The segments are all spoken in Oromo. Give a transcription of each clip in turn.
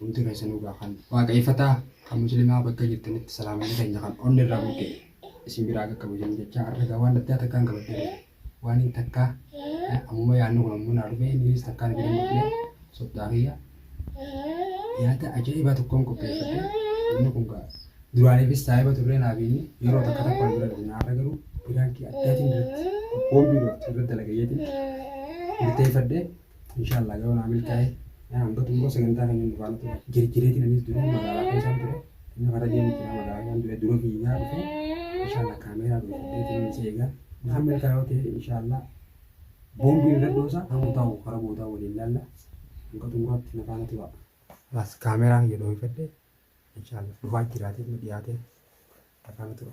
Hundii keessanuu gaa kan waaqayfataa kan muslimaa bakka jirtanitti salaamanni keenya kan onni irraa buqqee isin biraa akka kabajamu jechaa arra gaa waan addaa takkaan qabadhee waan hin takkaa ammuma yaadni kun ammoo naa dhufee innis takkaan bira hin dhufne soddaa kiyya yaada ajaa'ibaa tokkoon qopheeffadhe inni kun gaa duraaniifis saahiba turree naa beekni yeroo takka takka wal bira dhufne arra garuu biraankii addaatiin irratti qophoon biiroo irratti dalagayyeetiin murteeffadhe Inshallah yoo naa milkaa'e yaa hanga xumura sagantaa kan jennu faana ture. Jirjireetiin anis dura magaalaa keessaan ture. Inni fara deemu ture magaalaa keessaan ture dura fiigaa dhufe. Inshallah kaameeraa dhufe deetiin isa eegaa. Isaan milkaa'e yoo ta'e inshallah boombii irra dhoosa kan guutaa'u fara guutaa'u waliin laalla. Hanga xumuraatti na faana tura. As kaameeraa kiyya dhoofadhe. Inshallah dhufaa jiraatee nu dhiyaatee na faana tura.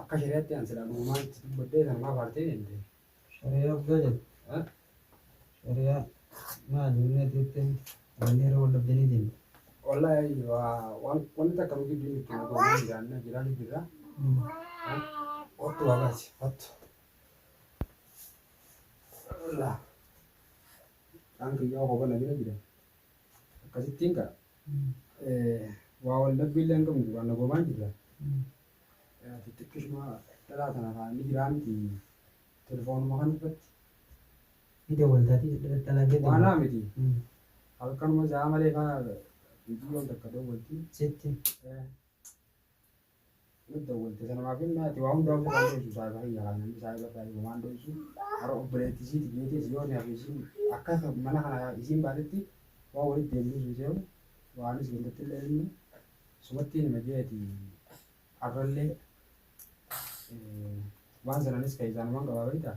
Akka shari'aatti an silaa dhugumaan itti dubbadhee kan maaf aartee deemte? Shari'aa guddaa jedhu. Eh? Shari'aa maali inni ati jettee wanni irra wal dhabdanii deemte. Wallahi waa- waan wanni takka nu gidduu jirtu nu goonee jiraanna jiraanni jirra. Eh? Kottu waa baasi kottu. Wallah. Kan kiyyaa kophaa na bira jira. akkasittiin gaa waa wal dhabbii illee hin qabnu duraan nagoomaan jirra. Ati xiqqishuma dhalaa tana kaa inni jiraa miti telefoonuma kan uffatti Ni dawwaltaati dhalaa jedhu. waanaa miti Mm. halkanuma isaa malee kaa biyyoon takka dawwalti. Sitti. Eh, Nutti dawwalte sanumaaf inni ati waa hundaa ofirraa dho'isu saahiba kiyya kaa namni saahiba irraa yoo waan dho'isu hara obboleetti isiiti jeetis yoo ni hafe isiin akka mana kana isiin baatetti waa walitti deebisus hin seehu waanis gandatti illee inni sumatti hin hima jeeti arrallee waan sananis keessaanumaan qabaa beektaa.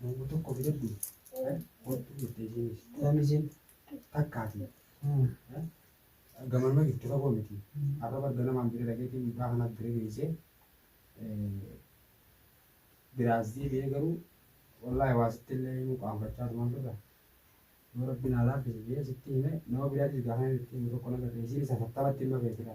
Mango tokko bitadhu hodhu jette isiinis tiramiziin takkaati gamanuma jirti fagoo miti har'a bar ganamaan bira dhageetii mucaa kana bira geessee biraas deebi'ee garuu wallaahi waa sitti illee himuu qaanfachaa tuman turre yoo rabbiin haa laaffise jee sitti hime nama biraatiif gaafa itti himu tokko nagarre isiinis afattabatti ilma beekidha.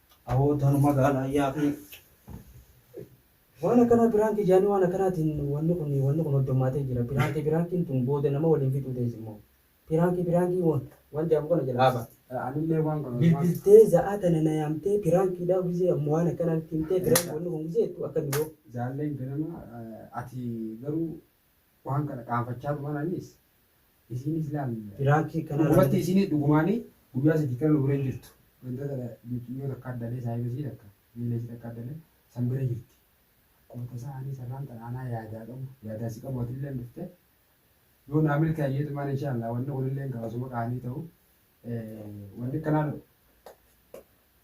Aboo tanuma gaalaa yaakni. Waan akkanaa piraanki jaanii waan akkanaatiin wanni kun wanni kun hoddommaatee jira piraanki piraankiin tun booda nama waliin fixuu teessi immoo piraanki piraanki waan waan jaamu kana jalaa ba'a. Anillee waan kana waan Bilbiltee za'aa tana na yaamtee piraankiidhaa gizee ammoo waan akkanaa nutti himtee piraanki wanni kun gizee jettu akka biroo. jaalleen ganama ati garuu waan kana qaanfachaa turan anis Isiin islam piraanki kanaa Dhugumatti isiin dhugumaani guyyaa sadii kana nu bira hin jirtu. Ganda tana mixiyyoo takka addalee saahiba isii takka miila isii takka addalee san bira jirti. Akkuma tasaa anii sarraan tana anaa yaadaa qabu yaadaa si qabu atilleen dhufte yoo naa milkaayee tumaan inshaallah wanni kunilleen gaafasuma qaanii ta'u wanni kanaa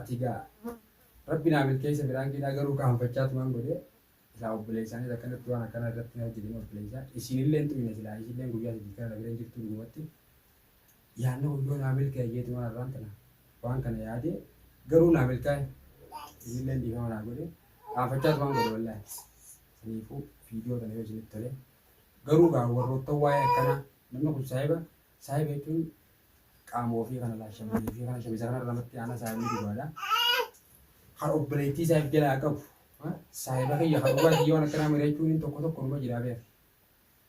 Atii gaa rabbi naa milkeesse piraanki dhaa garuu kaanfachaa tumaan godhee silaa obboleessaanis akkanatti waan akkanaa irratti hin hojjetini obboleessaa isiinillee hin tuyne silaa isiilleen guyyaa sadii kana na bira hin jirtuu dhugumatti yaanni kun yoo naa milkaa'e jee tumaan arraan tana waan kana yaadee garuu naa milkaa'e isiilleen dhiifama naa godhe kaanfachaa tumaan godhe wallaahi saniifuu viidiyoo tana yoo isinitti tole garuu gaa warroottan waa'ee akkanaa namni kun saahiba Saahiba jechuun qaama ofii kana laal shamiizii fi kana shamiza kana lamatti aanaa saahibni dhugaadha. Kan obboleettii isaa of jalaa qabu ha, saahiba kiyya kan dhugaa kiyya waan akkanaa mari'achuun inni tokko tokko numa jira beeku.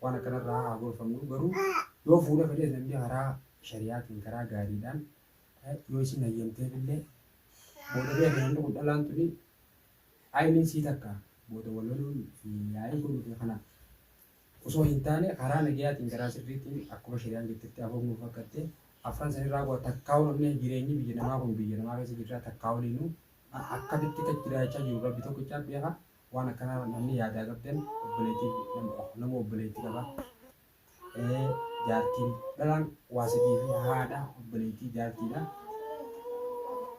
Waan akkanarraa haa gorfamnu garuu yoo fuudha fedhes namni karaa shari'aatiin karaa gaariidhaan eh, yoo isin hayyamteef illee booda beeku namni kun dhalaan tuni ayiniin sii takka booda wal loluun fi yaa'ii kun nuti kana osoo hin taane karaa nagayaatiin karaa sirriitiin akkuma shari'aan jettetti afoon nuu fakkatte afran sanirraa bu'a takkaa walumnee jireenyi biyya namaa kun biyya namaa keessa jirraa takkaa waliinuu a- akkamitti kan jiraachaa jiru rabbi tokkicha beeka waan akkanaa namni yaadaa qabdan obboleettii nama nama obboleettii qaba ee jaartiin dhalaan waa sadii fi haadha obboleettii jaartiidha